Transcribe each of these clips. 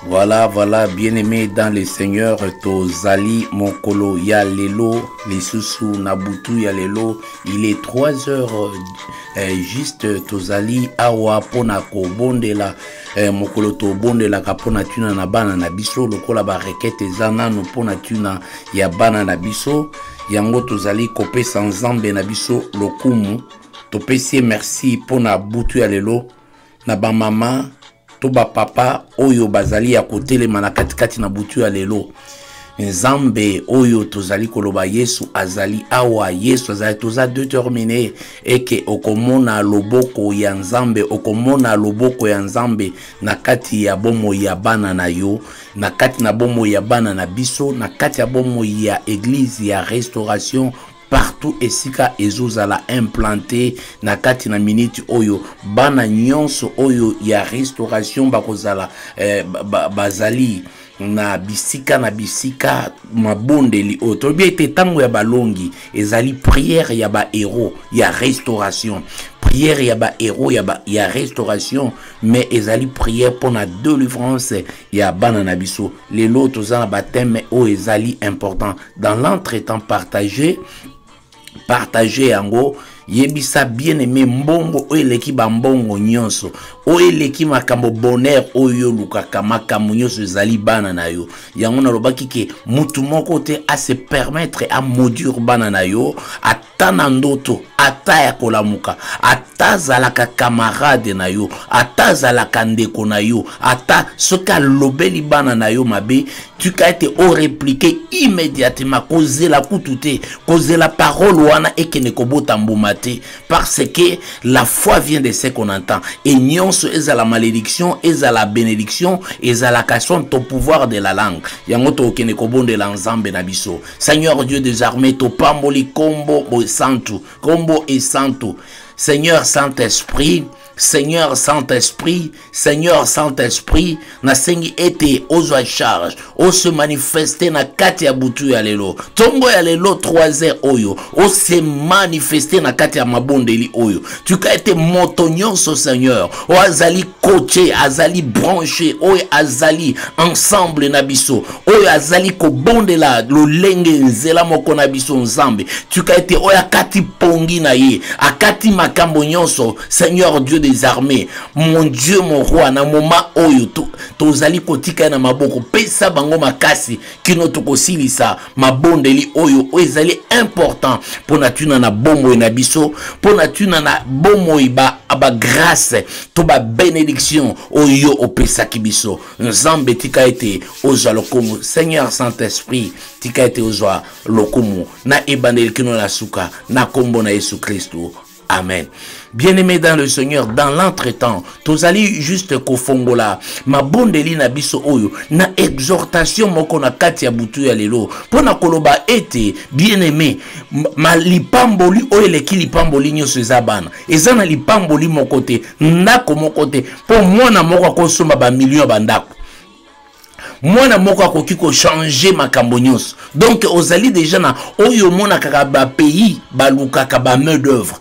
Voilà, voilà, bien-aimé dans le Seigneur, Tozali Mokolo ya lelo, lisusu na butu ya lelo, il est 3 heures eh, juste Tozali awa pona kobondela eh, mokolo tobondelaka pona tuna na bana na biso lokola ba requête eza nanu pona tuna ya bana na biso yango tozali kopesa nzambe na biso lokumu topesi ye merci pona butu ya lelo na bamama to bapapa oyo bazali ya kotelema na katikati na butu ya lelo nzambe oyo tozali koloba yesu azali awa yesu azali toza determine eke okomona loboko ya nzambe okomona loboko ya nzambe na kati ya bomoi ya bana na yo na kati na bomoi ya bana na biso na kati ya bomoi ya eglize ya restauration partout esika ezozala implante na kati na miniti oyo bana nyonso oyo ya restauration bakozala eh, bazali na bisika na bisika mabondeli oyo toyebi ete ntango ya balongi ezali priere ya bahéros ya restauration priere ya bahéros ya, ba, ya restauration mais ezali priere mpo na delivrance ya bana na biso lelo toza na bateme oyo ezali important dans l'entretemps partage partage yango yebisa bien aimé mbongo oyo eleki bambongo nyonso oyo eleki makambo bonheur oyo olukaka makambo nyonso ezali bana na yo yango nalobaki ke mutu moko te ase permettre amodure bana na yo ata na ndoto ata ya kolamuka ata azalaka kamarade na yo ata azalaka ndeko na yo ata soki alobeli bana na yo mabe tika ete oreplike immédiatement kozela kutu te kozela parole wana ekende kobota mbuma te parce que la foi vient de ce qu'on entend e nyonso ezala malédiction ezala bénédiction ezalaka son ton pouvoir de la langue yango tokokende kobondela nzambe na biso Seigneur Dieu des armées, topamboli kombo bosantu, kombo esantu. Seigneur Saint-Esprit, Seigneur Saint-Esprit, Seigneur Saint-Esprit, nasengi ete ozwa charge, ose manifeste na kati ya butu ya lelo. Tongo ya lelo 3 heures oyo, ose manifeste na kati ya mabondeli oyo. Tuka ete moto nyonso Seigneur, o azali coaché, azali branché, oyo azali ensemble na biso. oyo azali kobondela lolenge nzela moko na biso nzambe tika ete oyo akati pongi na ye akati makambo nyonso seigneur dieu des armées mon dieu mon roi na moma oyo tozali to kotika ye na maboko pesa bango makasi kino tokosilisa mabondeli oyo oyo ezali important mpo na ntina na bomoi na biso mpo na ntina na bomoi ba bagrâce to babenediction oyo opesaki biso nzambe tika ete ozwa lokumu seigneur saint esprit tika ete ozwa lokumu na ebandeli kino na suka na nkombo na yesu kristu Amen. Bien-aimé dans le Seigneur, dans l'entretemps, tozali juste kofongola mabondeli na biso oyo na exhortation moko na kati ya butu ya lelo mpo na koloba ete bien-aimé ma lipamboli oyo eleki lipamboli nyonso eza bana eza na lipamboli moko te ndako moko te mpo mwana moko akosomba bamilio ya bandako mwana moko akoki kochange makambo nyonso donk ozali deja na oyo omonakaka bapays balukaka bamain d'oeuvre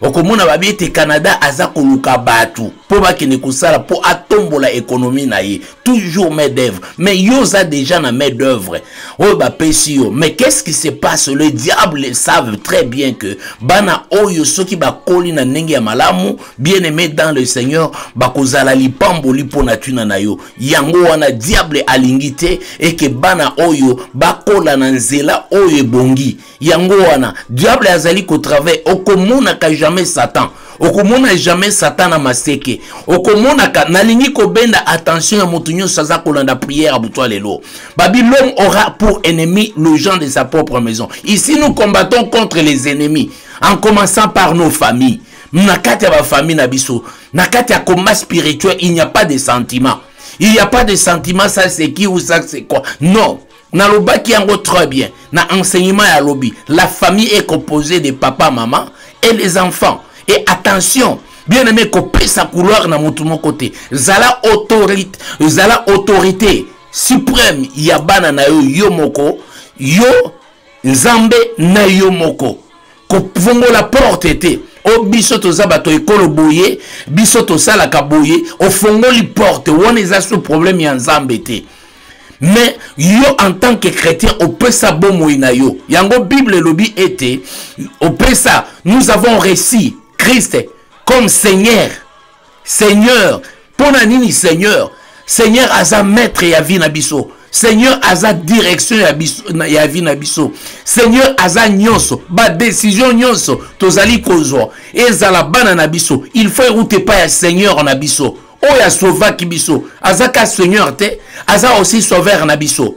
okomona babi ete canada aza koluka bato mpo bakende kosala mpo atombola ekonomi na ye toujours main d'oeuvre mais yo oza deja na main d'oeuvre oyo bapesi yo mais qu'est-ce qui se passe le diable savent très bien que bana oyo soki bakoli na ndenge ya malamu bien aimé dans le seigneur bakozala lipamboli mpo na ntina na yo yango wana diable alingi te eke bana oyo bakola na nzela oyo ebongi yango wana diable azali kotravaille okomonaka jamais satan okomona jamais satan na maseke okomonaka nalingi kobenda attention ya moto nyonso aza kolanda prière ya butwa lelo babi l'homme aura pour ennemi le gens de sa propre maison ici nous combattons contre les ennemis en commençant par nos familles na kati ya bafamille na biso na kati ya combat spirituel il n'y a pas de sentiment il n'y a pas de sentiment ça c'est qui ou ça c'est quoi non nalobaki yango très bien na enseignement ya lobi la famille est composée de papa maman et les enfants et attention bien aimé kopesa couloir na motu moko te zala autorité zala autorité suprême ya bana na yo yo moko yo nzambe na yo moko kofongola porte te o biso toza bato ekolo boye biso tosalaka boye ofongoli porte wana eza so problème ya nzambe te mais yo en tant que chrétien opesa bomoi na yo yango bible elobi ete opesa nous avons reçu christ comme seigneur seigneur mpo na nini seigneur seigneur aza maître ya vie na biso seigneur aza direction ya, biso, ya vie na biso seigneur aza nyonso badesizio nyonso tozali kozwa ezala bana na biso il faut euta epai ya seigneur na biso oyo asovaki biso azaka seigneur te aza aussi sauveur na biso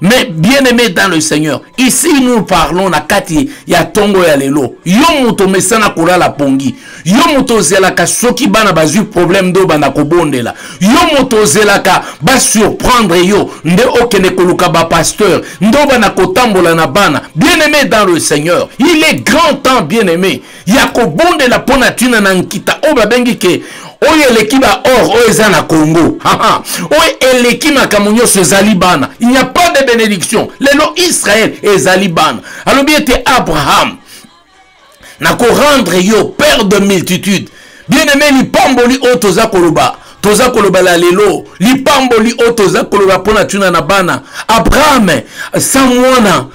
mais bien aimé dans le seigneur ici nous parlons na kati ya ntongo ya lelo yo moto omesana kolala pongi yo moto ozelaka soki bana bazwi problème nde obanda kobondela yo moto ozelaka basurprendre yo nde okende koluka bapasteur nde obanda kotambola na bana bien aimé dans le seigneur il est grand temps bien aimé ya kobondela mpo na ntina na nkita oyo babengi ke oyo eleki ba or oyo eza na congo oyo eleki makambo nyonso ezali bana il n'y a pas de bénédiction lelo israel ezali bana alobi ete abraham nakorendre yo père de multitude bien aimé lipamboli oyo toza koloba toza kolobela lelo lipamboli oyo toza koloba mpo na ntina na bana abrahame sa mwana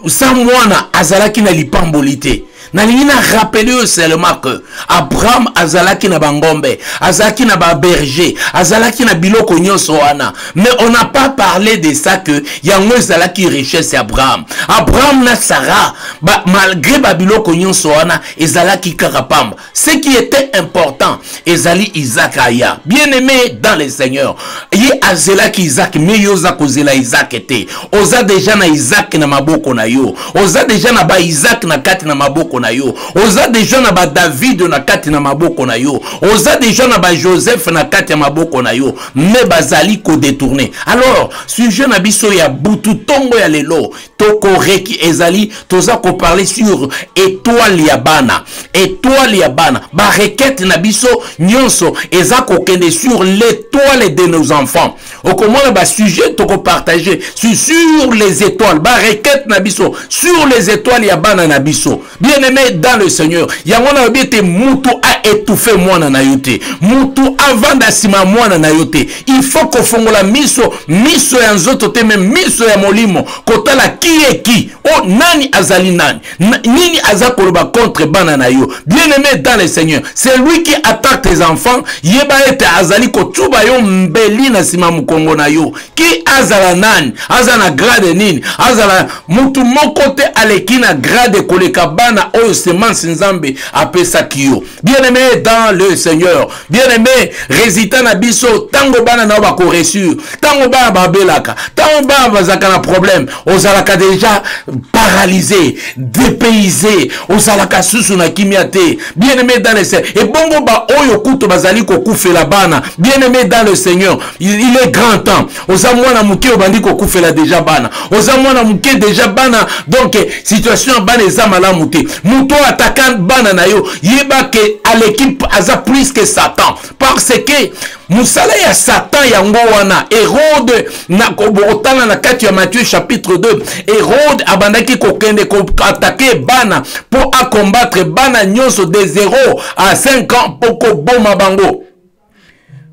sa mwana azalaki na lipamboli te nalingi na rappele yo seulement que abraham azalaki na bangombe azalaki na baberger azalaki na biloko nyonso wana mais on n'a pas parlé de ça que yango ezalaki richesse ya abraham abraham na sara ba, malgré babiloko nyonso wana ezalaki kaka pamba ce qui était important ezali isaac aya bien aimé dans le seigneur ye azelaki isaac me yo oza kozela isaac te oza deja na isaac na maboko na yo oza deja na ba isaac na kati na maboko na yo oza deja na ba david na kati na maboko na yo oza deja na ba joseph na kati ya maboko na yo me bazali kodetourne alors sujet na biso ya butu ntongo ya lelo tokoreki ezali toza koparle sur etoile ya bana etoile ya bana barekete na biso nyonso eza kokende sur l'étoile de nos enfants okomona basujet tokopartage sur, sur les étoiles barekete na biso sur les étoiles ya bana na biso bien aimé dans le seigneur yango nalobi ete mutu aetouffe mwana na yo te mutu avanda nsima ya mwana na yo te il faut kofongola miso miso ya nzoto te me miso ya molimo kotala kieki o oh, nani azali nani na, nini aza koloba contre bana na yo bien aimé dans le seigneur c'est lui qui attaque tes enfants yeba ete azali kotuba yo mbeli na nsima mokongo na yo ki azala nani aza na grade nini azala mutu moko te aleki na grade koleka bana oyo semence nzambe apesaki yo bien aimé dans le seigneur bien aimé résultat na biso ntango bana na yo bakoresur ntango bana babelaka ntango bana bazalaka na problème ozalaka déjà paralysé dépaysé ozalaka susu na kimia te bien aimé dans le seigneur ebongo baoyo kutu bazali kokufela bana bien aimé dans le seigneur il, il est grand temps oza mwana moke obandi kokufela deja bana oza mwana moke deja bana donc situation ya bana eza malamu te moto oyo ataka bana na yo yeba ke à l'équipe aza plus que satan parce que mosala ya satan yango wana herode otala na kati ya matthieu chapitre 2 herode abandaki kokende koatake bana mpo akombatre bana nyonso de 0 à 5 ans mpo koboma bango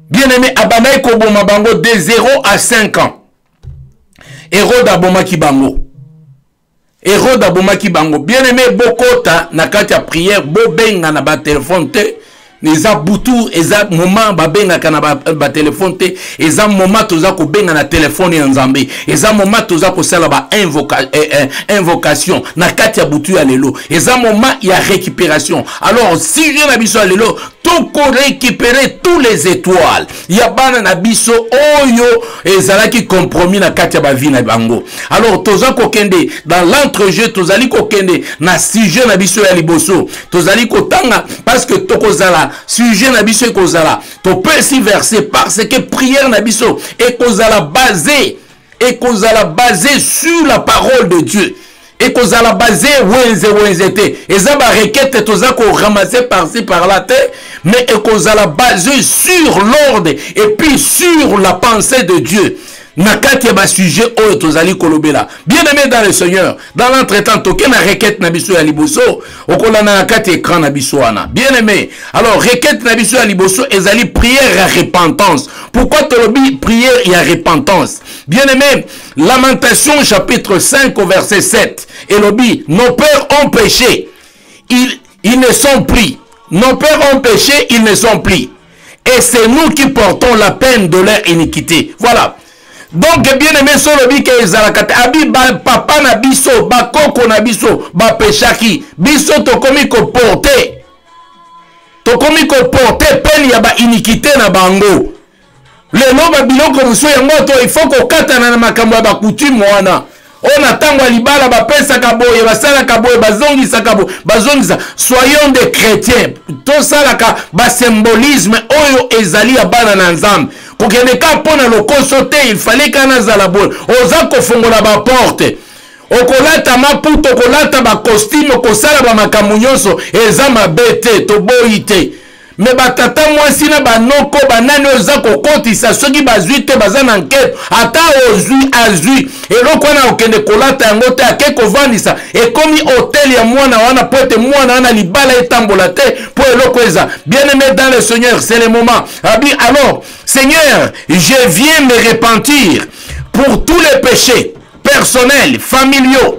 bien aimé abandaki koboma bango de 0 à 5 ans erode abomaki bango erode abomaki bango bien aimé bokota na kati ya prière bobenga na batelefone te eza butu eza moment babengaka na batelefone ba te eza moment toza kobenga na telefone ya nzambe eza moment toza kosala bainvocation eh, eh, invocation na kati ya butu ya lelo eza moment ya récupération alors sujet na biso ya lelo toko récupérer tous les étoiles ya bana na biso oyo ezalaki compromis na kati ya bavie na bango alors toza kokende dans l'entrejeu tozali kokende na sujet na biso ya liboso tozali kotanga parce que tokozala sujet na biso ekozala topesi verset parce que prière na biso ekozala basé ekozala base sur la parole de dieu ekozala base wenze wenze te eza barekete toza koramase parci par là te mais ekozala base sur l'ordre et puis sur la pensée de dieu na kati ya basujet oyo tozali kolobela bien aimé dans le seigneur dans l'entretemps toke na requête na biso ya liboso okolanda na kati écran na biso wana bien aimé alors requête na biso ya liboso ezali prière ya repentance pourquoi tolobi prière ya repentance bien aimé lamentation chapitre 5 au verset 7 elobi nos pères ont péché ils, ils ne sont pris nos pères ont péché ils ne sont pris Et c'est nous qui portons la peine de leur iniquité. Voilà. Donc, bien aimé, solobi ke ezalakate, abi ba papa na biso, ba koko na biso, ba peshaki, biso tokomi ko porter, tokomi ko porter peine ya ba iniquité na bango. lelo babiloko mosusu yango to ifo kokatana na makambo ya bakutime wana oyo na ntango ya libala bapesaka boye basalaka boye bazongisaka boye bazongisa soyons de chrétien tosalaka basymbolisme oyo ezali ya bana na nzambe kokende ka mpo na lokoso te ifale ka nazala boye oza kofongola baporte okolata maputa okolata bakostime okosala bamakambo nyonso eza mabe te toboyi te me batata mwasi na banoko banani oyo eza kokotisa soki bazwi te baza na nketo ata ozwi azwi eloko wana okende kolata yango te ake kovandisa ekomi hotel ya mwana wana mpo ete mwana wana libala etambola te mpo eloko eza bien aimé dans le seigneur c'est le moment abi alors seigneur je viens me repentir pour tous les péchés personnels familiaux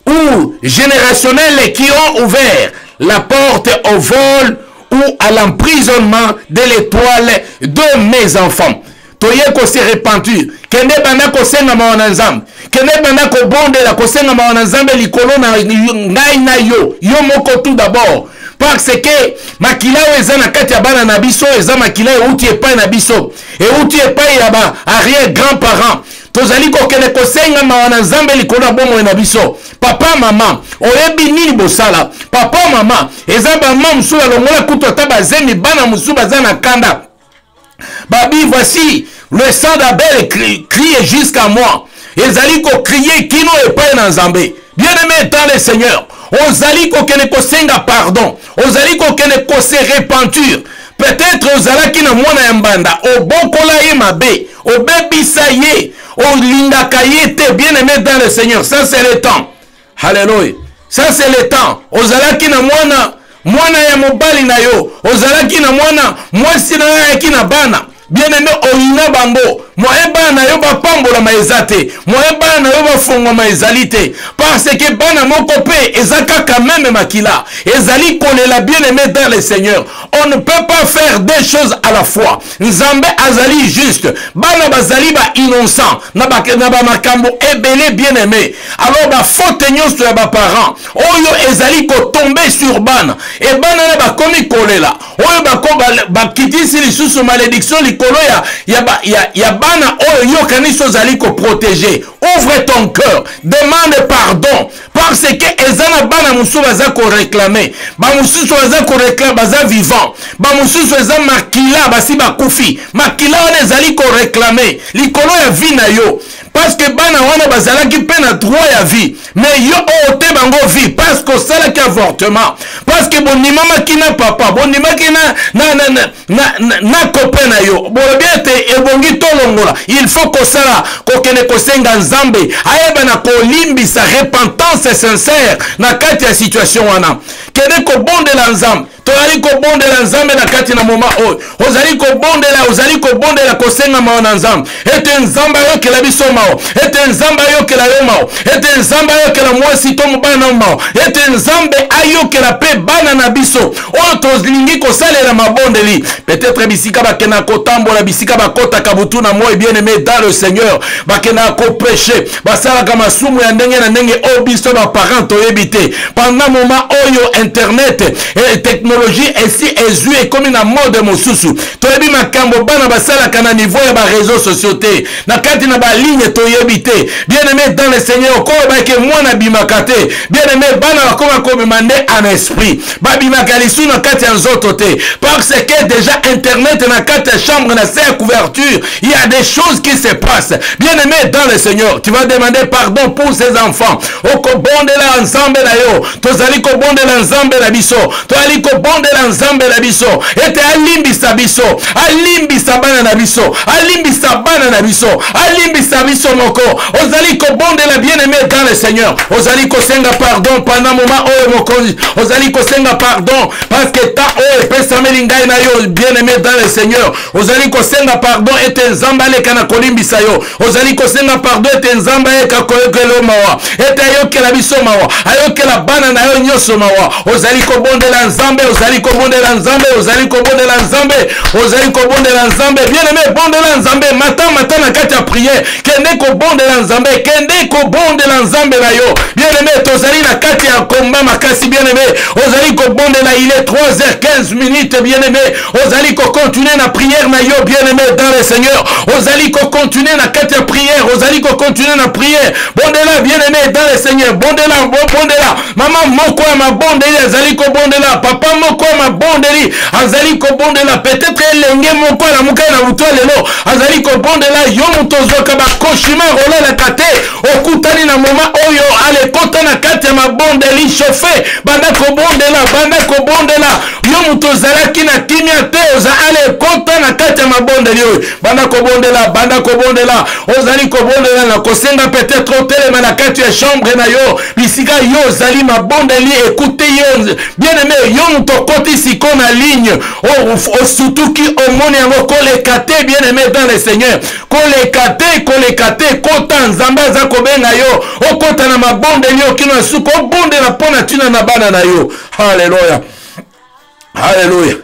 ou générationnels qui ont ouvert la porte au vol ou à l'emprisonnement de l'étoile de mes enfants. toye kose repentir kende banda kosenga mawa na nzambe kende banda kobondela kosenga mawa na nzambe likolo na ngai na yo yo moko tout d'abord parce que makila oyo eza na kati ya bana na biso eza makila euti epai na biso euti epai ya ba arrière grand parent tozali kokende kosenga mawa na nzambe likolo ya bomoi na biso papa mama oyebi nini bosala papa mama eza bama mosusu balongola kutu ata bazemi bana mosusu baza na kanda babi voici le sang d'abel crie jusqu'à moi ezali kokrie kino epai na nzambe bien aimé dans le seigneur ozali kokende kosenga pardon ozali kokende kose repentir peut-être ozalaki na mwana ya mbanda obokola ye mabe obebisa ye olingaka ye te bien aimé dans le seigneur ça c'est le temps halleluya ça c'est le temps ozalaki na mwana mwana ya mobali na yo ozalaki na mwana mwasi na yo ayaki na bana bien aime oyina bango moye bana na yo bapambolama eza te moye bana na yo bafongwama ezali te parce que bana moko mpe eza kaka meme makila ezali kolela bien aime dans le seigneur on ne peut pas faire deux choses à la fois nzambe azali juste bana bazali bainnocent na bamakambo ebele bien aime alors bafaute nyonso ya baparent oyo ezali kotombe sur bana e bana na bakomi kolela oyo bakitisi lisusu malediction likolo ya, ya, ba, ya, ya bana oyo yokanisi ozali koprotege ouvre ton cœur demande pardon parce que eza na bana mosusu baza koreklame bamosusu baza koreklame baza vivant bamosusu eza makila basi bakufi makila wana ezali koreklame likolo ya vi na yo parce que bana wana bazalaki mpe na droit ya vie mais yo ote bango vie parce que osalaki avortement parce que bondimamaki na papa bondimaki na, na, na, na, na, na, na copain na yo bolobi ete ebongi tolongola il faut kosala kokende kosenga nzambe ayeba na kolimbisa repentance sincère na kati ya situation wana kende kobondela nzambe tozali kobondela nzambe na kati na moma oyo ozali kobondela ozali kobondela kosenga mawa na nzambe ete nzambe ayokela biso mawa ete nzambe ayokela yo mawa ete nzambe ayokela mwasi to mobali na mawa ete nzambe ayokela mpe bana na biso oyo tolingi kosalela mabondeli peut-être bisika bakendaka kotambola bisika bakotaka butu na moi bien aimé dans le seigneur bakendaka kopreche basalaka masumu ya ndenge na ndenge oyo biso baparent toyebi te pendant moment oyo internet eh, technologie esi ezwi ekomi na mode mosusu toyebi makambo bana basalaka na niveau ya bareseau sociaux te na kati na baligne toyebi te bien aimé dans le seigneur okoyebaki mwana abimaka te bien aimé bana bakoma kobima nde en esprit babimaka lisu na kati ya nzoto te parce que déjà internet na kati ya chambre na se ya couverture Il y a des choses qui se passent. Bien-aimé dans le Seigneur, tu vas demander pardon pour ces enfants. okobondela nzambe na yo tozali kobondela nzambe na biso tozali kobondela nzambe na biso ete alimbisa biso alimbisa bana na biso alimbisa bana na biso alimbisa biso moko ozali kobondela bien-aimé dans le Seigneur ozali kosenga pardon pendant moment oyo mokonzi ozali kosenga pardon parce que temps oyo epesameli ngai na yo bien-aimé dans le Seigneur ozali kosenga pardon ete nzambe aleka na kolimbisa yo ozali kosenga pardon ete nzambe ayeka koyokela yo mawa ete ayokela biso mawa ayokela bana na yo nyonso mawa ozali kobondela nzambe ozali kobondela nzambe ozali kobondela nzambe ozali kobondela nzambe bien aime bondela nzambe mata mata na kati ya priere kende kobondela nzambe kende kobondela nzambe na yo bien aime tozali na kati ya komba makasi bien aime ozali kobondela ile 3h15 minute bien aime ozali kocontinue na prière na yo bien aimé dans le seigneur ozali kocontinue na kati ya prière ozali kocontinue na prière bondela bien aimé dans le seigneur bondela bondela mama moko ya mabondeli azali kobondela papa moko ya mabondeli azali kobondela peut-être elenge moko alamuka na moto ya lelo azali kobondela yo moto ozwaka bakoshima olalaka te okutani na moma oyo alekota na kati ya mabondeli chauffe banda kobondela banda kobondela yo moto ozalaki na kimia te oza ale ekota na kati ya mabondeli oyo banda kobondela banda kobondela ozali kobondela na kosenga peut-être otelema na kati ya chambre na yo bisika yo ozali mabondeli ekute yo bien aime yo moto okoti siko na ligne osutuki omoni yango koleka te bien aime dans le seigneur koleka te koleka te kota nzambe aza kobenga yo okota na mabondeli okino ya suka obondela mpo na ntina na bana na yo Alléluia. Alléluia.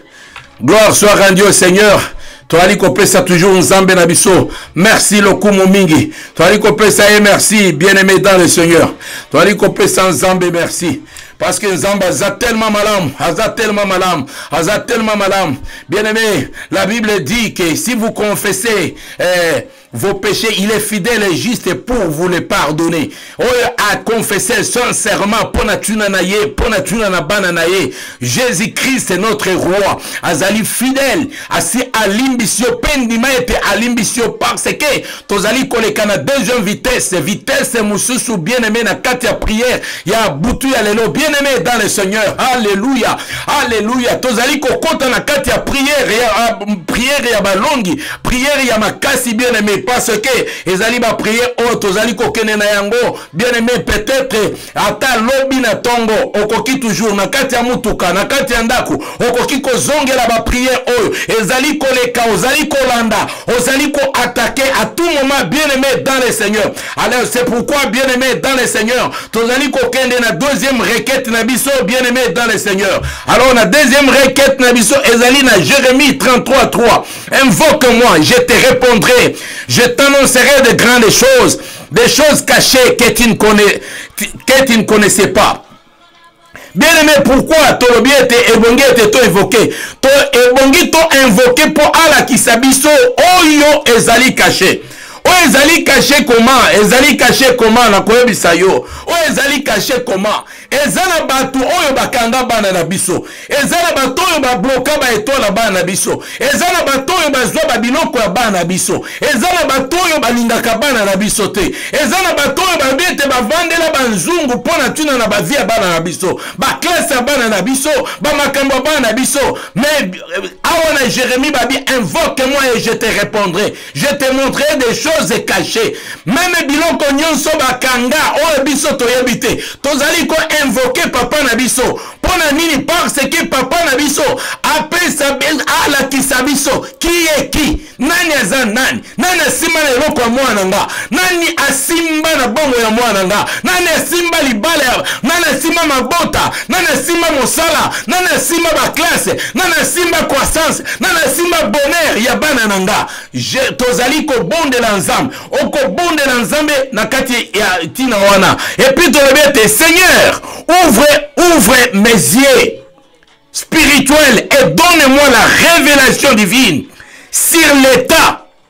Gloire soit rendue au Seigneur. toyali kopesa toujours nzambe na biso merci lokumu mingi toyali kopesa ye merci bien aimé dans le seigneur toyali kopesa nzambe merci parce que Nzamba aza tellement malam, aza tellement malam, aza tellement malam. Bien aimé, la Bible dit que si vous confessez eh, vos péchés, il est fidèle et juste pour vous les pardonner. Oyo a confessé sincèrement pona tuna na ye, pona tuna na bana na ye. Jésus-Christ est notre roi. Azali fidèle, asi alimbisio pendi maete alimbisio parce que tozali koleka na deuxième vitesse, vitesse mususu bien-aimé na kati ya prière ya butu ya lelo bien-aimé dans le Seigneur. Alléluia. Alléluia. Tozali kokota na kati ya prière ya prière ya balongi priere ya makasi bien aimé parce que ezali bapriere oyo oh, tozali kokende na yango bien aimé peut-être ata lobi na ntongo okoki toujours na kati ya motuka na kati ya ndako okoki kozongela bapriere oyo oh, ezali koleka ozali kolanda ozali koatake à tout moment bien aimé dans le seigneur alors c'est pourquoi bien aimé dans le seigneur tozali kokende na deuxième requête na biso bien aimé dans le seigneur alors na deuxième requête na biso ezali na jérémie 33 3 Invoque-moi, je te répondrai. Je t'annoncerai de grandes choses, des choses cachées que tu ne, connais, que tu ne connaissais pas. bien aimé pourquoi tolobi ete ebongi ete to evoke to ebongi to invoke mpo alakisa biso oyo ezali kashe oyo ezali kashe koma ezali kashe koma nakoyebisa yo oyo ezali kashe koma eza na bato oyo bakanga bana na biso eza na bato oyo babloka baetoile na bana na biso eza na bato oyo bazwa babiloko ya bana na biso eza na bato oyo balingaka bana na biso te eza na bato oyo babi ete bavandela banzungu mpo na ntina na bavi ya bana na biso baklase ya bana na biso bamakambo ya bana na biso mais euh, awa na jérémie babi invoque moi et je te répondrai je te montrerai des choses cachées meme biloko nyonso bakanga oyo biso toyebi te tozali koinvoke papa na biso mpo na nini parce que papa na biso apesa alakisa biso kiyeki nani aza nani nani asimba na eloko ya mwana nga nani asimba na bongo ya mwana nga nani asimba libala ya nani asimba mabota nani asimba mosala nani asimba baklasse nani asimba croissance nani asimba bonheur ya bana na nga tozali kobondela nzambe okobondela nzambe na kati ya ntina wana epuis tolobi ete seigneur ouvre ouvre mes yeux spirituel et donne moi la révélation divine sur l'état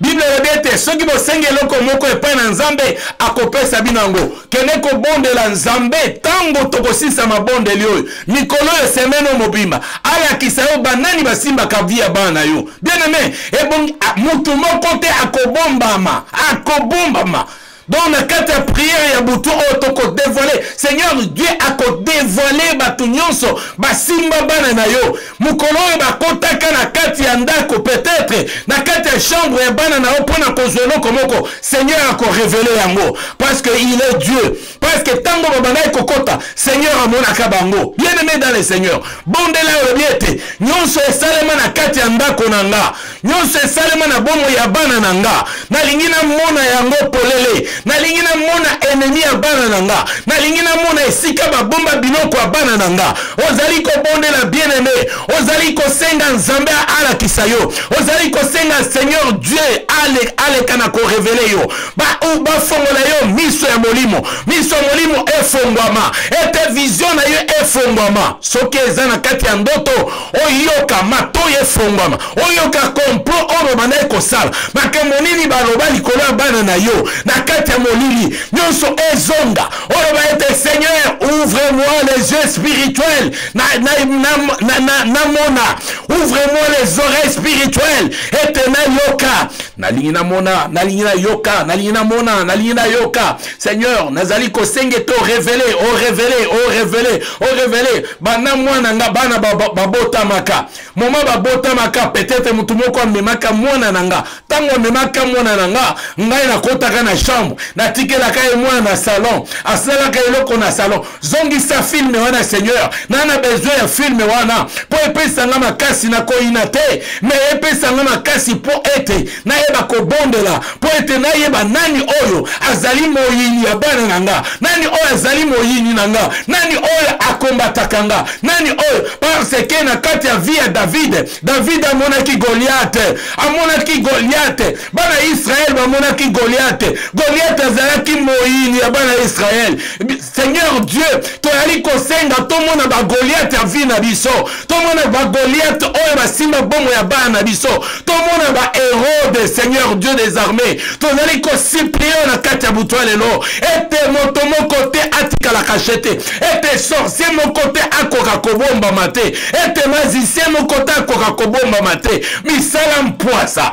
biblia elobi ete soki bosengi eloko moko epai na nzambe akopesa bino yango kende kobondela nzambe ntango tokosilisa mabondeli oyo mikolo oyo semene oyo mobimba alakisa yo banani basimbaka vi ya bana na yo bien aime ebongi motu moko te akobombama akobombama donc na kati ya priere ya butu oyo tokodevoile seigneur dieu akodevoile bato nyonso basimba bana na yo mokolo oyo bakotaka na kati ya ndako peut-être na kati ya chambre ya bana na yo mpo na kozwa eloko moko seigneur akorevele yango parce que il est dieu parce que ntango babandaki kokota seigneur amonaka bango bien aime dans le seigneur bondela olobi ete nyonso esalema na kati ya ndako na nga nyonso esalema na bomo ya bana na nga nalingi namona yango polele nalingi namona enemi ya bana na nga nalingi namona esika babomba biloko ya bana na nga ozali kobondela bien aime ozali kosenga nzambe alakisa yo ozali kosenga seigneur dieu aleka na korevele yo bafongola ba yo miso ya molimo miso ya molimo efongwama ete vizio na yo efongwama soki eza na kati ya ndoto oyoka matoi efongwama oyoka komplo oyo babanda ye kosala makambo nini baloba likolo ya bana na yo na kati ya molili nyonso ezonga oloba ete seigneur ouvre moi les yeux spirituels namona ouvre moi les oreilles spirituelles ete nayoka nalingi namona nalingi nayoka nalingi namona nalingi nayoka seigneur nazali kosenga ete orevele orevele orevele orevele banda mwana nga bana babotamaka moma babotamaka peut-être motu moko amemaka mwana na nga ntango amemaka mwana na nga ngai nakotaka na chambre natikelaka ye mwana na salon asalaka eloko na salon zongisa filme wana seigneur na na besoin ya filme wana mpo epesa nga makasi na koyina te me epesa nga makasi mpo ete nayeba kobondela mpo ete nayeba nani oyo azali moyini ya bana na nga nani oyo azali moyini na nga nani oyo akombataka nga nani oyo parce ke na kati ya vie ya davide davide amonaki goliate amonaki goliate bana ya israele bamonaki goliate goliate azalaki moyini ya bana ya israele seigneur dieu toyali kosenga tomona bagoliate ya vie na biso tomona bagoliate oyo basimba bomo ya bana na biso tomona baherode seigneur dieu des armées tozali kosiplie na kati ya butu ya lelo ete moto moko te atikala kashe te ete sorcier moko te akoka kobombama te ete magicien moko te akoka kobombama te misala mpwasa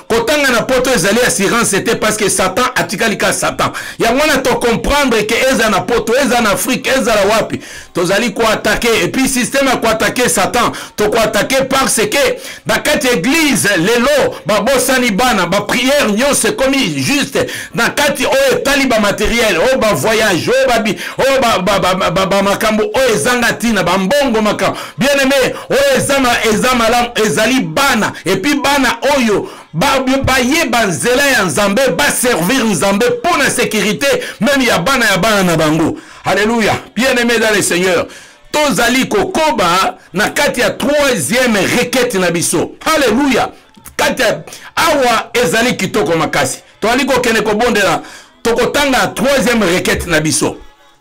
kotanga na poto ezali assurance te parce que satan atikali ka satan yango wana tocomprendre ke eza na poto eza na afrique ezala wapi tozali koatake epuis systeme ya koatake satan tokoatake parce ke na kati ya eglise lelo babosani bana bapriere nyonso ekomi juste na kati oyo etali bamateriel oyo bavoyage oyo bamakambo oyo ezanga ntina bambongo makambo bien aimé oyo ezama eza malamu ezali bana epuis bana oyo bayeba nzela ya nzambe baservir nzambe mpo na sécurité meme ya bana ya bana na bango alleluya bien aimé dans le seigneur tozali kokoba na kati ya troisième requete na biso alleluya kati ya awa ezali kitoko makasi tozali kokende kobondela tokotanga troisième requete na biso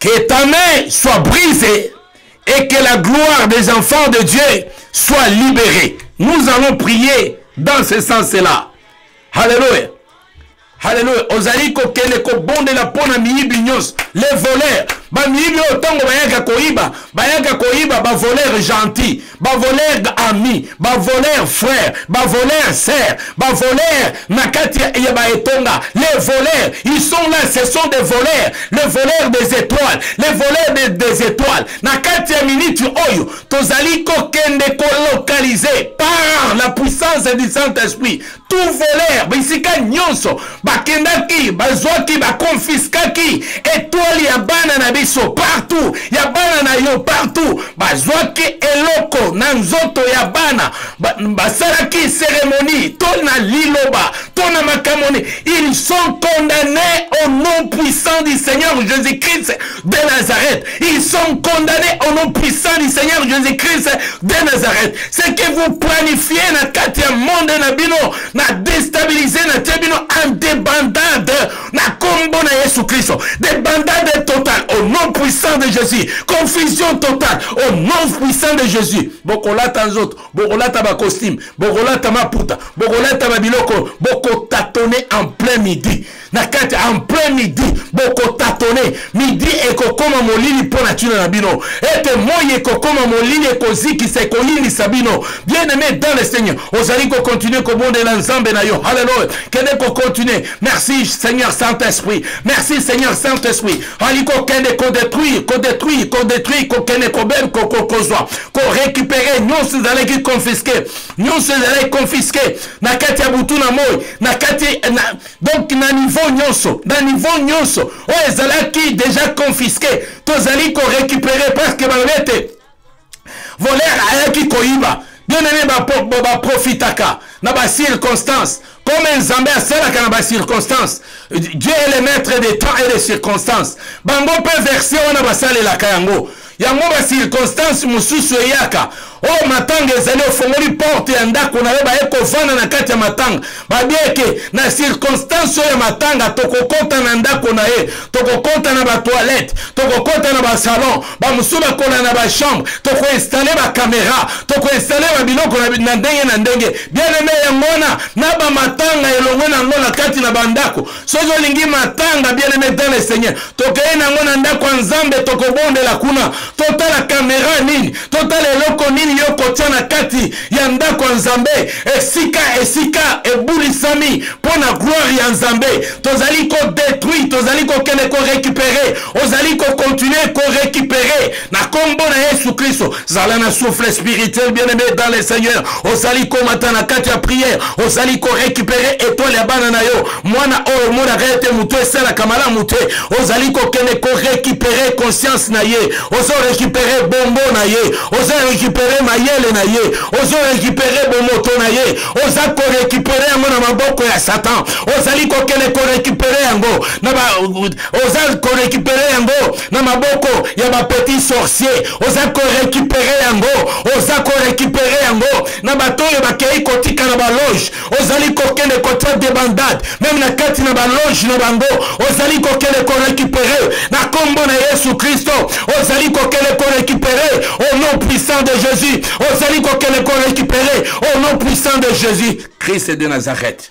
Que ta main soit brisée et que la gloire des enfants de Dieu soit libérée. Nous allons prier dans ce sens-là. Alléluia. Alléluia. Ozali kokende kobondela mpo na miyibi nyonso. Les voleurs. Bamiyibi oyo ntango bayaka koyiba, bayaka koyiba ba voleurs gentils. bavoler ami bavoler frère bavoler sœur bavoler na kati ya baetonga les voleurs ils sont là ce sont des voleurs les voleurs des étoiles les voleurs des, des étoiles na kati ya miniti oyo tozali kokende kolocaliser par la puissance du saint-esprit tout voleur bisika nyonso bakendaki bazwaki bakonfiskaki etwale ya bana na biso partout ya bana na yo partout bazwaki eloko na nzoto ya bana basalaki ba seremoni to na liloba to na makambo ils sont condamnés au nom puissant du seigneur jésus-christ de Nazareth. Ils sont condamnés au nom puissant du Seigneur Jésus-Christ de Nazareth. Ce que vous planifiez na kati ya monde na bino, na déstabiliser na tia bino en débandade na combo na Yesu Christ. Débandade totale au nom puissant de Jésus. Confusion totale au nom puissant de Jésus. Bokolata nzoto, bokolata ba costume, bokolata maputa, bokolata ba biloko, bokotatoner en plein midi. na kati en plein midi bokotatone midi ekokoma molili mpo na ntina na bino ete moi ekokoma molili ekozikisa ekoyinisa bino bien aimé dans le seigneur ozali kokontinue kobondela nzambe na yo halleluya kende kokontinue merci seigneur saint esprit merci seigneur saint esprit ali kokende kodetruire kodetruire kodetruire kokende kobel kozwa korekipere nyonso ezalaki confisque nyonso ezalaki confisque na kati ya butu na moi na kati donc na niveau nyonso na niveau nyonso oyo oh, ezalaki déjà confisque tozali korécupérer parce que balobi ete voler ayaki koyiba bien aimé baprofitaka ba, ba na bacirconstance comme nzambe asalaka na bacirconstance dieu est le maître des temps et des circonstances bango mpe version wana basalelaka yango yango ba circonstance mosusu eyaka oyo oh, matanga ezali ofongoli porte ya ndako na yo baye kovanda na kati ya matanga babieke na circonstance oyo ya matanga tokokɔta na ndako na ye tokokɔta na batoilette tokokɔta na basalon bamosusu bakola na bachambre tokoinstale bakamera tokoinstale babiloko na ndenge na ndenge bien aime yango wana na bamatanga elongwe na yango na kati na bandako soki olingi matanga bien aime dans le seigneur tokei nango na ndako ya nzambe tokobondela kuna totala kamera nini totala eloko nini yo kotya na kati ya ndako ya nzambe esika esika ebulisami mpo na gloire ya nzambe tozali kodetruire tozali kokende korekipere ozali kokontinue korekipere na kombo na yesu kristo zala na souffle spirituel bien aimé dans le seigneur ozali komata na kati ya prière ozali korécupere étoile ya bana na yo mwana oyo omonaka ete moto esalaka malamu te ozali kokende korécupere conscience na ye ozorécupere bombo na ye ozorécupere mayele na ye ozorécupere bomoto na ye oza korécupere yango na maboko ya satan ozali kokende korécupere yango oza korécupere yango na maboko ya ba petit sorcier oza korekipere yango oza korekipere yango na bato oyo bakei kotika na baloge ozali kokende kotia debandade meme na kati na baloge na bango ozali kokende korekipere na nkombo na yesu kristo ozali kokende korekipere au nom puissant de jésus ozali kokende korekipere au nom puissant de jésus christ de nazareth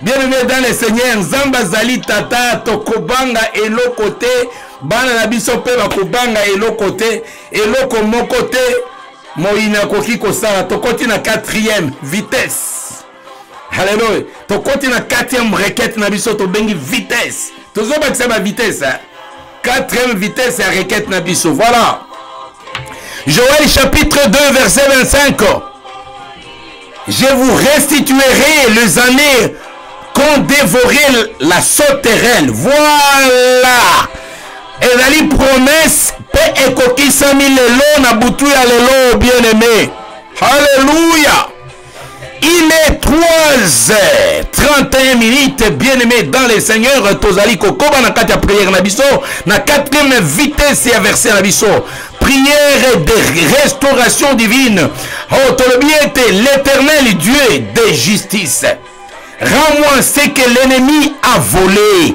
bien aimé dans le seigneur nzambe azali tata tokobanga eloko te bana na biso mpe bakobanga eloko te eloko moko te moyini akoki kosala tokoti na 4e vitesse halleluya tokoti na 4e rekete na biso tobengi vitesse tozobakisa bavitesse Quatrième vitesse ya requête na biso. Voilà. Joël chapitre 2 verset 25. Je vous restituerai les années qu'ont dévoré la sauterelle. Voilà. ezali promese mpe ekokisami lelo na butu ya lelo bien aime halleluya Il est 3 heures 31 minutes, bien-aimés dans les seigneurs, tozali kokoba na kati ya prière na biso, na quatrième vitesse ya verset na biso. Prière de restauration divine. Oh, tolobi ete l'éternel Dieu de justice. Rends-moi ce que l'ennemi a volé.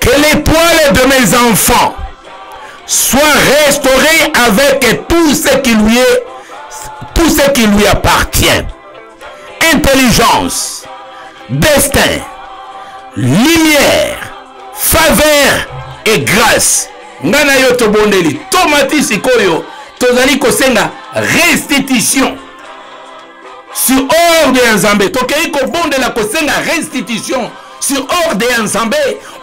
Que l'étoile de mes enfants soit restaurée avec tout ce qui lui est, tout ce qui lui appartient. Intelligence, destin, lumière, faveur et grâce. Ngana na yo tobondeli tomati sikoyo tozali kosenga restitution sur ordre ya nzambe tokei kobondela kosenga restitution sur ordre ya nzambe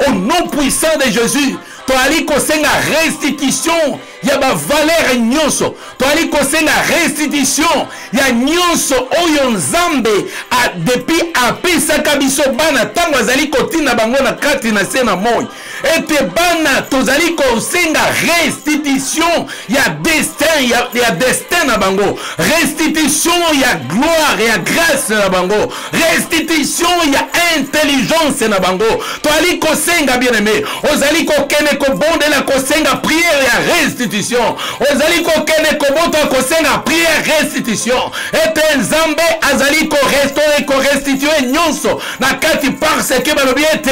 au nom puissant de jésus toyali kosenga restitution ya bavalere nyonso toyali kosenga restitution ya nyonso oyo nzambe depuis apesaka biso bana ntango azali kotinda bango na kati na se na moi ete bana tozali kosenga restitution ya destin ya, ya destin na bango restitution ya gloire ya grâce na bango restitution ya intelligence na bango toali kosenga bien aimé ozali kokende kobondela kosenga prière ya restitution ozali kokende kobota kosenga prière restitution ete nzambe azali korestore korestitue nyonso na kati parce que balobi ete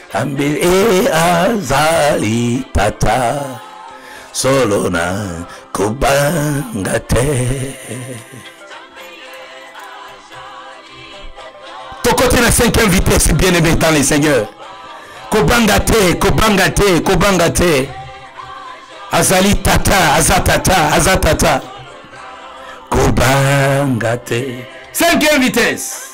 Ambe e azali tata solo na kobanga te tokoti na cinquième vitesse bien aimé dans le seigneur kobanga te kobanga te kobanga te azali tata aza tata aza tata kobanga te cinquième vitesse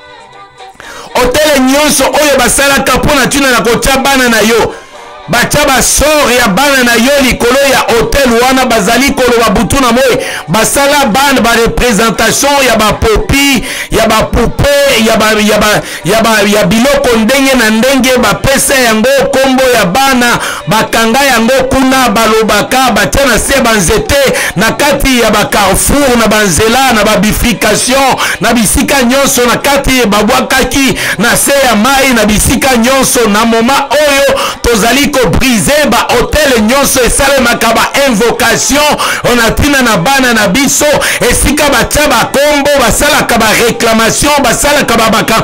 otele nyonso oyo basalaka mpo na ntina na kotya bana na yo batya basore ya bana na yo likolo ya hotel wana bazali koloba butu na moi basala bana barepresentation ya bapopi ya bapupe ya, ba, ya, ba, ya, ba, ya biloko ndenge na ndenge bapesa yango nkombo ya bana bakanga yango kuna balobaka batia na se banzete na kati ya bacarrefour na banzela na babifrication na bisika nyonso na kati babwakaki na se ya mai na bisika nyonso na moma oyo tozali kobrise bahotel nyonso esalemaka bainvocation ona ntina na bana na biso esika batya bakombo basalaka bareclamation basalaka babaka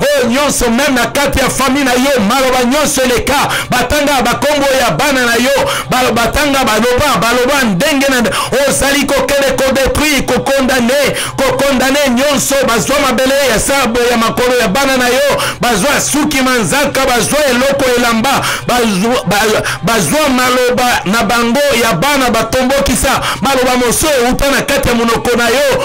oyo nyonso meme na kati ya fami na yo maloba nyonso eleka batanga bakombo ya bana na yo batanga baloba baloba ndenge na ozali kokende kodetruire kokondane kokondane nyonso bazwa mabele ya sabo ya makolo ya bana na yo bazwa suki manzaka bazwa eloko elamba bazwa maloba na bango ya bana batombokisa maloba mosusu euta na kati ya monoko na yo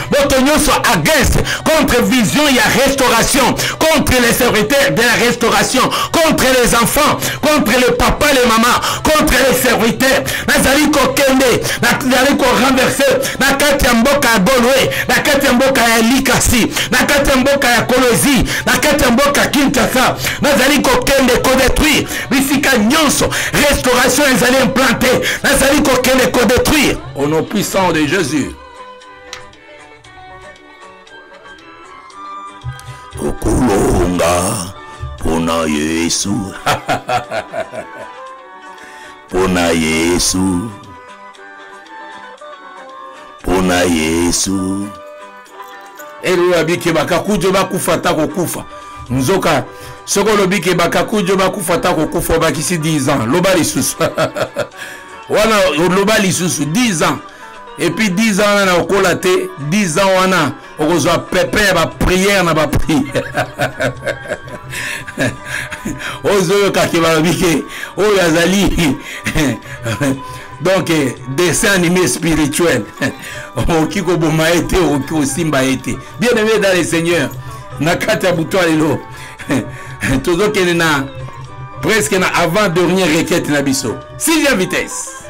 boto nyonso against contre vision ya restauration contre les serviteurs de la restauration contre les enfants contre le papa le mama contre les serviteurs nazali kokende nazali korenverse na kati ya mboka ya golwe na kati ya mboka ya likasi na kati ya mboka ya kolozi na kati ya mboka kinshasa nazali kokende kodetruire bisika nyonso restauration ezali implante nazali kokende kodetruire au nom puissant de jésus tokolonga mpona yesu mpona yesu mpona yesu elelo abike bakakujo bakufa ata kokufa nzoka soki olobi ke bakakujo bakufa ata kokufa obakisi 10 ans loba lisusu wana loba lisusu 10 ans epuis 10 ans wana na okola te 10 ans wana okozwa pepe ya bapriere na bapri ozoyokaki balobi ke oyo azali donc dessin animé spirituel okoki koboma ye te okoki kosimba ye te bien aimé dans le seigneur na kati ya butu ya lelo tozokende na presque na avant dernier requete na biso sixième vitesse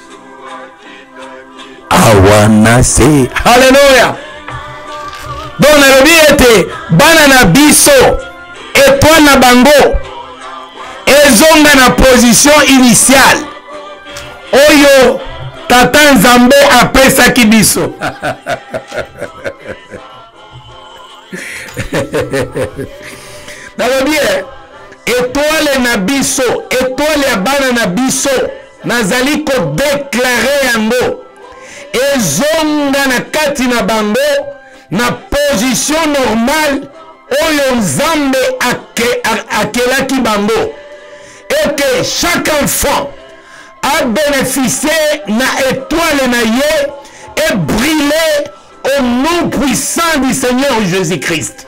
awa na se haleluya donc nalobi ete bana na biso etoile na bango ezonga na position initiale oyo tata nzambe apesaki biso nalobi etoile na biso etoile ya bana na biso nazali kodeklare yango ezonga na kati na bango na position normale oyo nzambe ake, akelaki bango eke chaque enfant abénéficie na étoile na ye ebrille au nom puissant du seigneur jésus-christ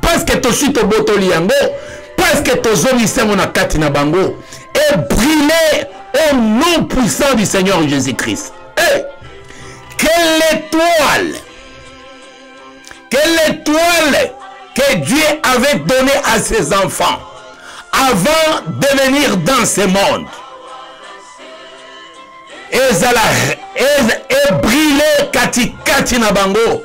Presque tosi tobotoli yango, presque tozongisi yango na kati na bango et brûler au nom puissant du Seigneur Jésus-Christ. Hey! Eh! Quelle étoile Quelle étoile que Dieu avait donnée à ses enfants avant de venir dans ce monde ezala ebrille katikati na bango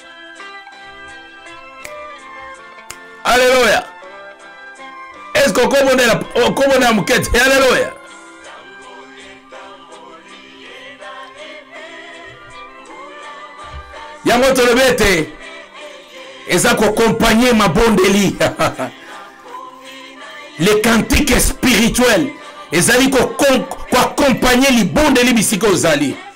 Alléluia. Est-ce qu'on comprend la, on comprend la moquette? Alléluia. yango tolobi ete eza kokompagne mabondeli le cantique spirituel ezali koakompagne libondeli bisika ozali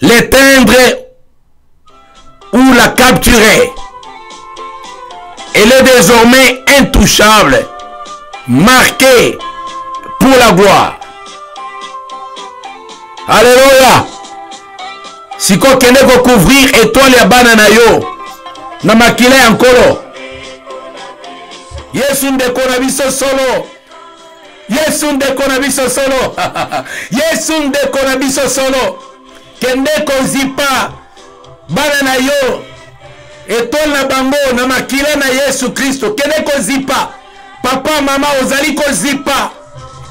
l'éteindre ou la capturer. Elle est désormais intouchable, marquée pour la gloire. Alléluia. sikoyo kende kocouvrir etoile ya bana na yo na makila ya nkolo yesu ndeko na biso solo Yesu ndeko na biso solo. Yesu ndeko na biso solo. Kende kozipa bana na yo etole na bango na makila na Yesu Kristo. Kende kozipa papa mama ozali kozipa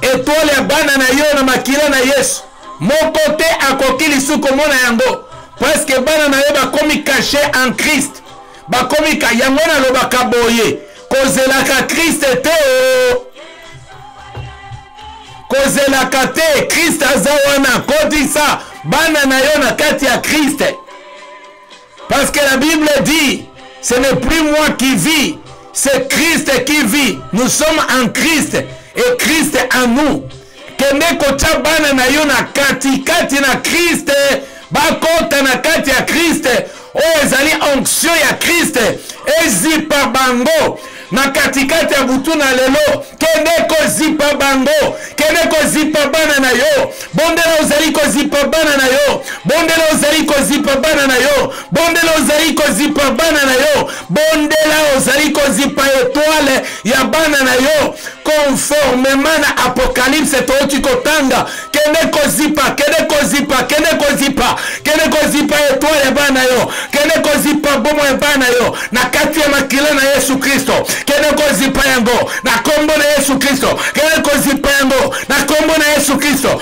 etole ya bana na yo na makila na Yesu. Moko te akoki lisusu komona yango. Parce que bana na yo bakomi caché en Christ. bakomi ka yango nalobaka boye kozelaka kriste te o kozelaka te kriste aza wana kotisa bana na yo na kati ya kriste parce que la bible dit ce n'est plus moi qui vis c'est kriste qui vit nous sommes en kriste et kriste en nous kende kotya bana na yo na katikati na kriste bakota na kati ya kriste oyo ezali onction ya kriste ezipa bango na katikati ya butu na lelo kende kozipa bango kende kozipa bana na yo bondela ozali kozipa bana na yo bondela ozali kozipa bana na yo bondela ozali kozipa bana na yo bondela ozali kozipa etwale ya bana na yo conformement na apocalypse toyoki kotanga kende kozipa kende kozipa kende kozipa kende kozipa etwale ya bana na yo kende kozipa bomo ya bana na yo na kati ya makila na yesu kristo kende kozipa yango na kombo na yesu kristo kende kozipa yango na kombo na yesu kristo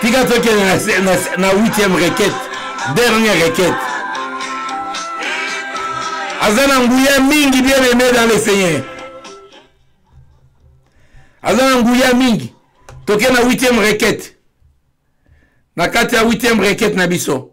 tika tokende na, na, na 8e requête dernière requête aza na nguya mingi bien aimé dans le seigneur aza na nguya mingi toke na 8e requête na kati ya 8e requête na biso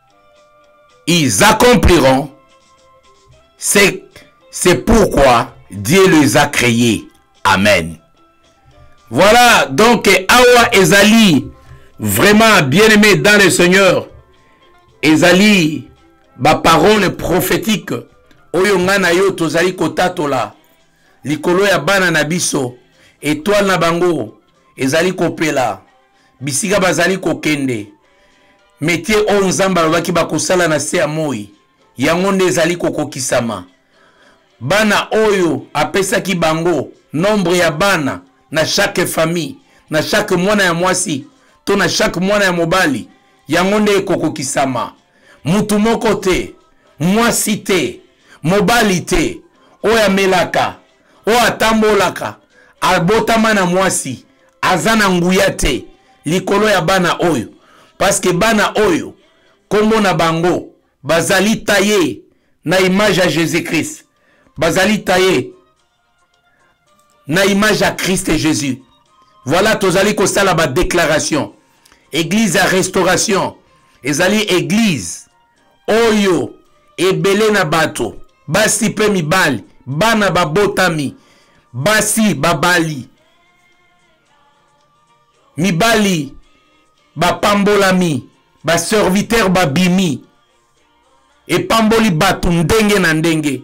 ils accompliront c'est c'est pourquoi Dieu les a créés amen voilà donc awa ezali vraiment bien aimé dans le Seigneur ezali ba parole prophétique oyo ngai na yo tozali kotatola likolo ya bana na biso etoile na bango ezali kopela bisika bazali kokende Metier oyo Nzambe alobaki bakosala na se ya moi, yango nde ezali kokokisama. Bana oyo apesaki bango, nombre ya bana na chaque famille, na chaque mwana ya mwasi to na chaque mwana ya mobali, yango nde ekokokisama. Mutu moko te, mwasi te, mobali te, oyo amelaka oyo atambolaka abotama na mwasi aza na nguya te likolo ya bana oyo paske bana oyo nkombo na bango bazali taye na image ya jésus christ bazali taye na image ya christ jésus voilà tozali kosala badéclaration église ya restauration ezali église oyo ebele na bato basi mpe mibali bana babotami basi babali mibali bapambolami baservitere babimi epamboli bato ndenge na ndenge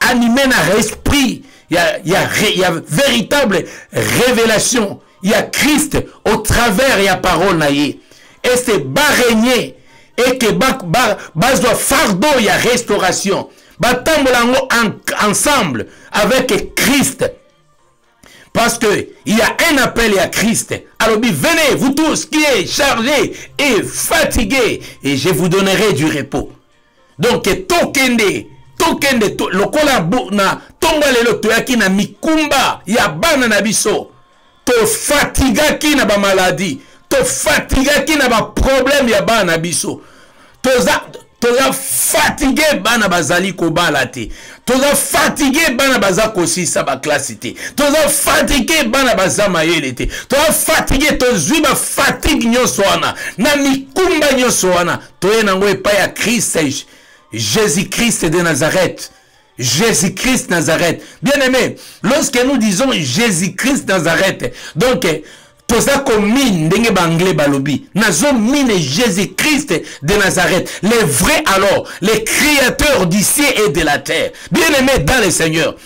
anime na esprit ya, ya, ya véritable révélation ya christ au travers ya parole na ye ese baregne eke bazwa ba, ba fardeau ya restauration batambola yango en, ensemble avec christ Parce que il y a un appel à Christ. Alors venez, vous tous qui êtes chargés et fatigués, et je vous donnerai du repos. Donc, tokende, tokende, to, lokola na tonga lelo toyaki na mikumba ya bana na biso. To fatigaki na ba maladie, to fatigaki na ba problème ya bana na biso. toza toza fatigue bana bazali kobala te toza fatigue bana baza kosisa baklasi te toza fatigue bana baza mayele te toza fatigue tozwi bafatigue nyonso wana na mikumba nyonso wana toye nango epai ya krist jésus krist de nazareth Jésus-Christ Nazareth. Bien-aimé, lorsque nous disons Jésus-Christ Nazareth, donc toza komine ndenge baanglais balobi nazo mine jésus christ de nazareth le vrai alors le créateur du ciel et de la terre bien aimé dans le seigneur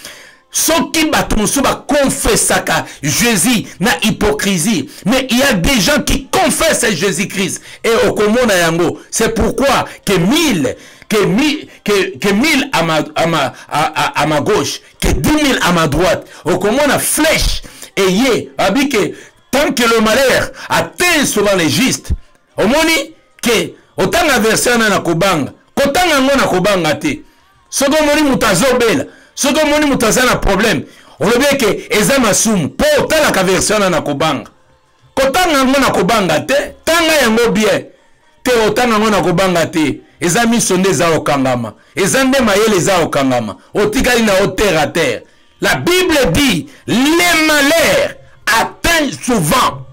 soki bato mosusu bakonfesaka jésus na hypocrisie mais il y a des gens qui confessent jésus christ et okomona yango c'est pourquoi que mille que, mi, que, que 1000 à ma, à, ma, à, à, à ma gauche, que 10 000 à ma droite. Au comment la flèche ayez abi que tant que le malheur atteint souvent les justes, au moins que autant la version na kobanga, autant la na kobanga te. Ce qu'on moni mutazobela, ce qu'on moni mutazana problème. On le dit que eza masumu, po autant la version na kobanga. kotanga yango na kobanga te tanga yango bien te otanga yango na kobanga te eza miso nde eza okangama eza nde mayele eza okangama otikali na yo terre à terre la bible dit les malheurs atteint souvent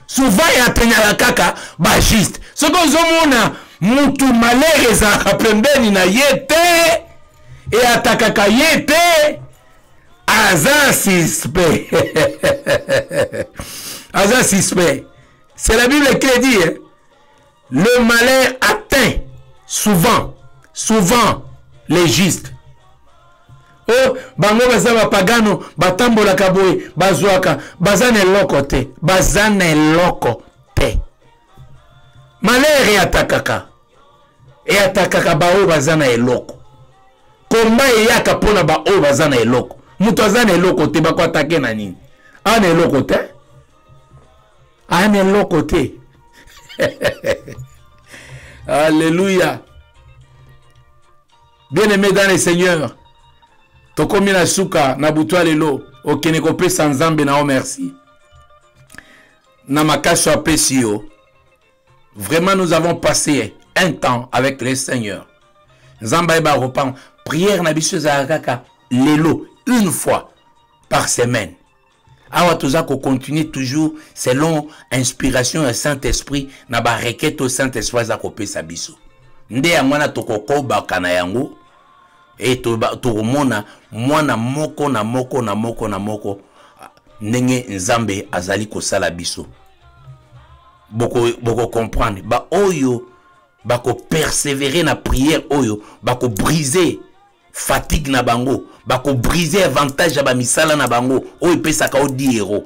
souvent eateignaka kaka bajuste soki ozomona mutu malheur ezalaka pembeni na ye te eatakaka ye te aza suspect aza suspect c'est la bible qui le dit hein? le malin atteint souvent souvent les justes o oh, bango baza bapagano batambolaka boye bazwaka baza na eloko te baza na eloko te malere atakaka eatakaka baoyo baza na eloko komba eyaka mpo na baoyo baza na eloko moto aza na eloko te bako atake na nini aa na eloko te aa na eloko te alleluya bien aimé dans le seigneur tokomi na suka na butu ya lelo okende kopesa nzambe na yo merci na makasi apesi yo Vraiment, nous avons passé un temps avec le Seigneur. Nzamba eba repent. Prière na biso kaka lelo une fois par semaine. Awa toza ko continuer toujours selon inspiration du Saint-Esprit na ba requête au Saint-Esprit za ko pesa biso. Nde yango na tokokoba kana yango et tokomona mwana moko na moko na moko na moko ndenge Nzambe azali kosala biso. boko boko comprendre ba oyo bako persévérer na prière oyo bako briser fatigue na bango bako briser avantage ya bamisala na bango oyo epesaka o diero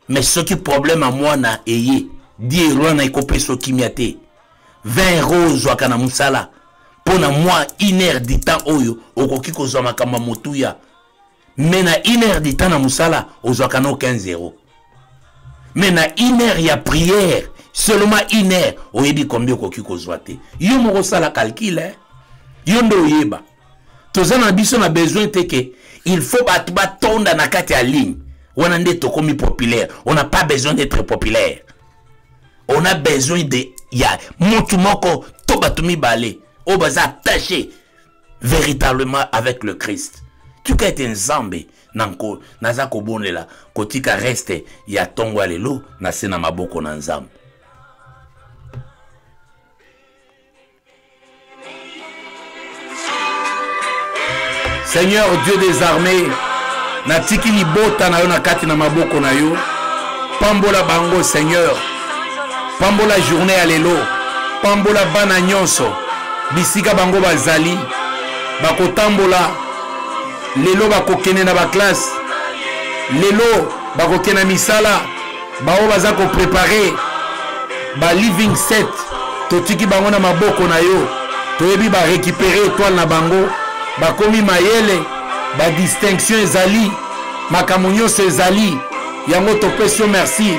mais soki problème ya mwana eye diero wana ekopesa okimia te 20 euro ozwaka na mosala mpo na mwa une heure du temps oyo okoki kozwa makambo ya motuya mais na une heure du temps na mosala ozwaka no 15 zero mais na une heure ya prière seulement une heure oyebi combien okoki kozwa te yo moko osala calcul eh? yo nde oyeba toza na biso na besoin te ke il faut bato batonda na kati ya ligne wana nde tokomi populaire on n'a pas besoin d'être populaire on a besoin de ya mutu moko to bato mibale oyo baza attache véritablement avec le christ tika ete nzambe na nko naza kobonela kotika reste ya ntongo ya lelo na se na maboko na nzambe seigneur dieu des armées natiki libota na yo na kati na maboko na yo pambola bango seigneur pambola journée ya lelo pambola bana nyonso bisika bango bazali bakotambola lelo bakokende na baklasse lelo bakokende na misala baoyo baza koprepare ba living set totiki bango na maboko na yo toyebi barekipere etoile na bango bakomi mayele badistinction ezali makambo nyonso ezali yango topesi yo merci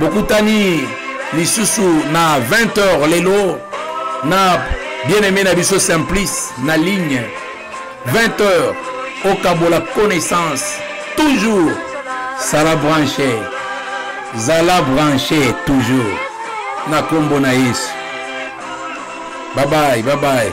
bokutani lisusu na 20h lelo na bien aimé na biso simplice na ligne 20h okabola connaissance toujours sala branche zala branche toujours na kombo na yesu babai babai